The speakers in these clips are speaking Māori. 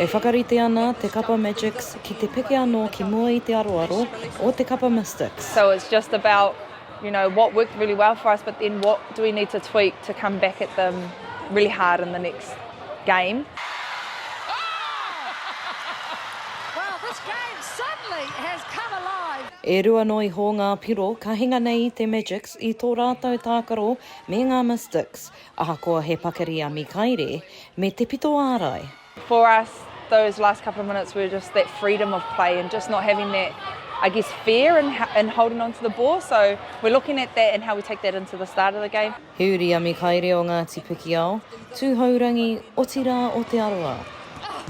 E whakarite ana te kapa Magix ki te peke anō ki mua i te aroaro o te kapa Mystics. So it's just about, you know, what worked really well for us but then what do we need to tweak to come back at them really hard in the next game. E rua noa iho ngā piro ka hinga nei i te Magix i tō rātou tākaro me ngā Mystics. Ahakoa he pakari a Mikaere me te pito ārai. For us those last couple of minutes were just that freedom of play and just not having that I guess fear in in holding onto the ball so we're looking at that and how we take that into the start of the game. He uri a Mikaere o Ngāti Pikiao, Tūhourangi, otirā o Te Arawa.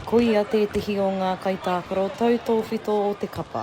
Ko ia tētehi o ngā kaitākaro tau tōwhito o te kapa.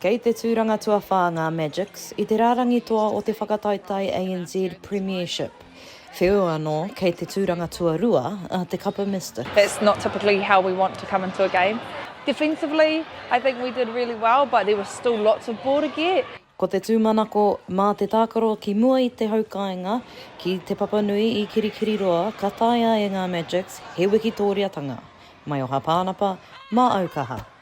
Kei te tūranga tuawhā ngā Magics i te rārangi toa o te Whakataetae ANZ Premiership. Wheu anō kei te tūranga tuarua a te Kapa Mister. That's not typically how we want to come into a game. Defensively, I think we did really well, but there were still lots of ball to get. Ko te tūmanako, mā te tākaro ki mua i te hau kāinga, ki Te Papanui i Kirikiriroa ka taea e ngā Magics he wikitōriatanga. Maioha Pānapa, mā Aukaha.